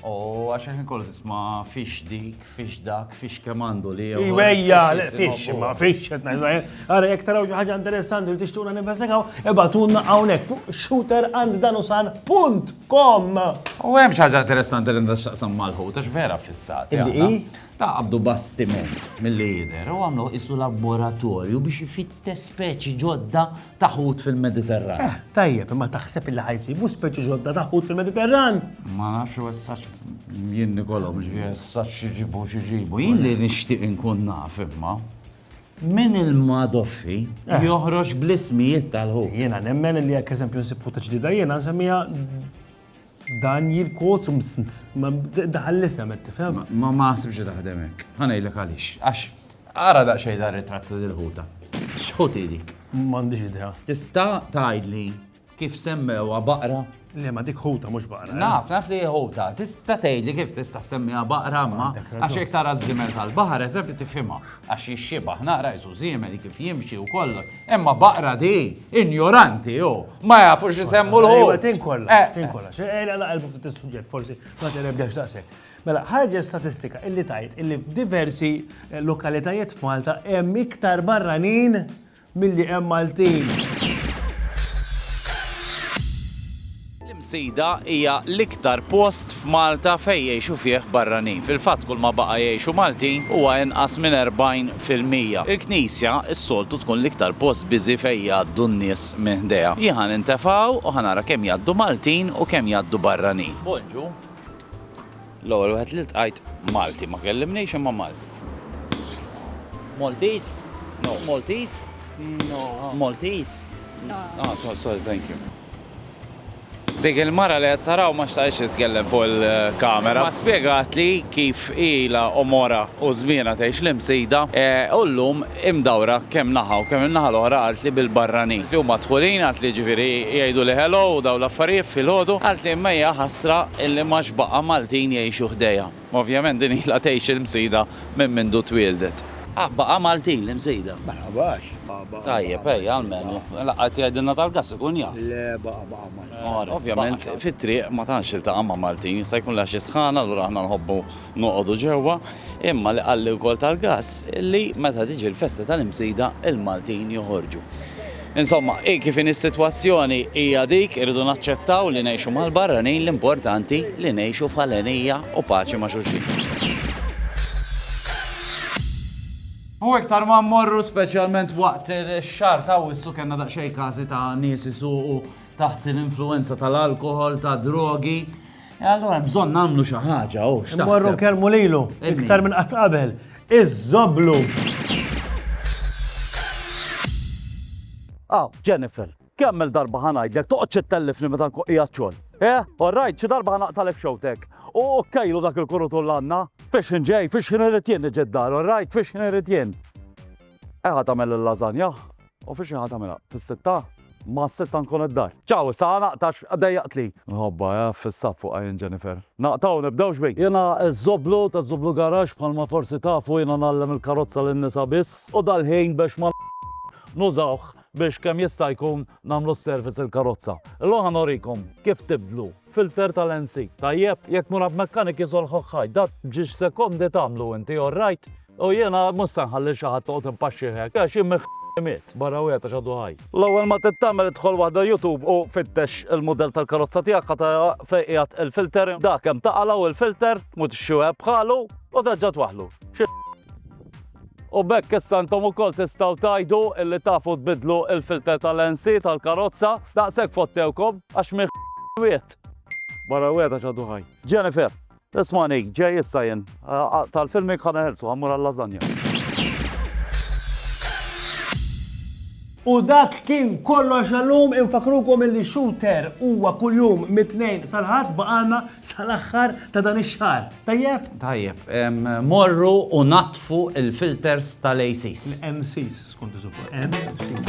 U għax il-ħin kollu tisma fix dik, fix dak, fix kemm għandu li. Iwejja, fix, ma fix, għara jek taraw ħaġa interessanti li tixtuna ninvestigaw, ebatunna għawnek fuq shooter and danusan punt kom. U hemm ħaġa interessanti li ndax taqsam malħu, tax vera fissat. Ta' għabdu bastiment mill-lider u għamlu isu laboratorju biex jifitte speċi ġodda ta' ħut fil-Mediterran. Eh, tajjeb, imma taħseb illi ħajsibu speċi ġodda ta' ħut fil-Mediterran? Ma nafx u essaċ jien nikolom li essaċ xiġibu xiġibu. Jien li nixtieq inkun naf imma min il-madoffi eh. joħroġ bl-ismijiet tal-ħut. Jiena nemmen li jekk eżempju nsib ħuta ġdida jiena nsemmija Daniel Kotz Msns. Ma daħal l-isem qed tifhem? Ma ma sibx taħdem hekk. Ħa ngħidlek għaliex. Għax ara daqsxejn dar ritratt ta' dil-ħuta. X'ħut hi dik? M'għandix idea. Tista' tgħidli kif semmewha baqra? Le ma dik ħuta mhux baqra. Eh? Naf, naf li ħuta. Tista' tgħidli kif tista' semmiha baqra ma għax hekk tara ż-żimel tal-baħar eżempju tifhimha. Għax jixxibah naqra qisu żiemel kif jimxi u kollox. Imma baqra di, injoranti hu, ma jafux x'isemmu l-ħut. Ejwa, tinkolla, eh. tinkolla. Ejla naqilbu ftit is-suġġett forsi, ma tinebdex daqshekk. Mela, ħarġet statistika illi tajt illi f'diversi eh, lokalitajiet f'Malta hemm iktar barranin Milli hemm Maltin. L-Imsida hija l-iktar post f'Malta fejn jgħixu fih barranin. Fil-fatt kulma baqa' jgħixu Maltin huwa inqas minn 40 fil-mija. Il-Knisja s-soltu tkun l-iktar post biżi fejn jgħaddu n-nies minn ħdejha. Jien ħa nintef hawn u ħa nara kemm jgħaddu Maltin u kemm jgħaddu barranin. Bonġu. L-ewwel wieħed li ltqajt Malti, ma kellimnix imma Malti. Maltese? No. Maltese? No. Maltese? No. Ah, so, sorry, thank you. Dik il-mara li qed taraw ma xtaqx titkellem fuq il-kamera. Ma spjegat li kif ila u mora u żmiena tgħix l-imsida e, u llum hi mdawra kemm naħa u kemm in-naħa l-oħra qalt li bil-barranin li huma dħulin qalt li jiġifieri jgħiduli hello u dawn l-affarijiet filgħodu qalt li imma hija ħasra illi m'għadx baqa' Maltin jgħixu ħdejha. Ovvjament din ilha tgħix il-Msida minn mindu twieldet. Ah baqa' Maltin l-Imsida? Ma nħabax. Tajjeb ejja għall-menù. La qed jgħidilna tal-gass ikun jaf. Le baqa' baqa' Maltin. Ovvjament fit-triq ma tantx iltaqa' ma' Maltin jista' jkunlha xi sħana allura aħna nħobbu noqogħdu ġewwa, imma li qalli wkoll tal-gass li meta tiġi l-festa tal-Imsida l-Maltin joħorġu. Insomma, hi kif inhi s-sitwazzjoni hija dik, irridu naċċettaw li ngħixu mal-barranin l-importanti li ngħixu f'ħalenija u paċi ma' xulxin. U iktar ma mmorru speċjalment waqt ix-xahar ta' Awwissu kellna daqsxejn każi ta' nies isuqu taħt l-influwenza tal-alkoħol, tad-drogi, E allora bżonn nagħmlu xi ħaġa, oh, x'taħseb? Morru kelmu lilu, iktar minn qatt qabel, iż-żoblu. Aw, Jennifer, kemm il-darba ħanajdlek toqgħodx ittellifni meta nkun qiegħed xogħol. Eh, orrajt, xi darba ħanaqtalek xewtek. U kejlu dak il-kurutu l-għanna. Fiex ġej, fiex ħin irrid jien niġi d-dar, orrajt, fiex ħin irrid jien. Eħa tagħmel il-lażanja, U fiex inħa tagħmilha? Fis-sitta? Ma s-sitta nkun id-dar. Ciao, issa ħa naqta' għax dejjaqtli. Nħobbha, eh, f'issa fuqha jien Jennifer. Naqta' u nibdewx bik. Jiena ż-Żoblu ta' Żoblu Garage, bħalma forsi tafu jiena ngħallem il-karozza lin-nisa biss u dal-ħin biex ma nużawh biex kemm jista' jkun nagħmlu s-service il-karozza. Illum ħa norikom kif tibdlu filter tal-NC. Tajjeb, jekk murab mechanic isolħħok ħaj, dak b'ġiex sekondi tagħmlu inti, all right? U jiena mhux se nħalli xi ħadd toqgħod impaxxih hekk, għax jien minn miet, barra wieħed għax għadu ħaj. L-ewwel ma trid tagħmel idħol waħda YouTube u fittex il-mudell tal-karozza tiegħek ħa tara fejn qiegħed il-filter, dak hemm taqalgħu il-filter, tmut ix-xeweb bħalu u terġa' twaħħlu. Xi U b'hekk issa intom ukoll tistgħu tgħidu illi tafu tbiddlu l-filter tal-NC tal-karozza, daqshekk fottewkom għax minn wiegħed. Barra wiegħed għax għadu ħaj. Jennifer, ismani, ġej issa jien. Tal-filming ħa neħelsu, ħammur għal-lażanja. U dak kien kollox għallum, infakkrukom illi Shooter huwa kuljum mit-Tnejn sal-Ħadd baqgħalna sal-aħħar ta' dan ix-xahar. Tajjeb? Tajjeb, morru u naddfu l-filters tal-ACs. L-MCs, skont iż-żuppa. MCs.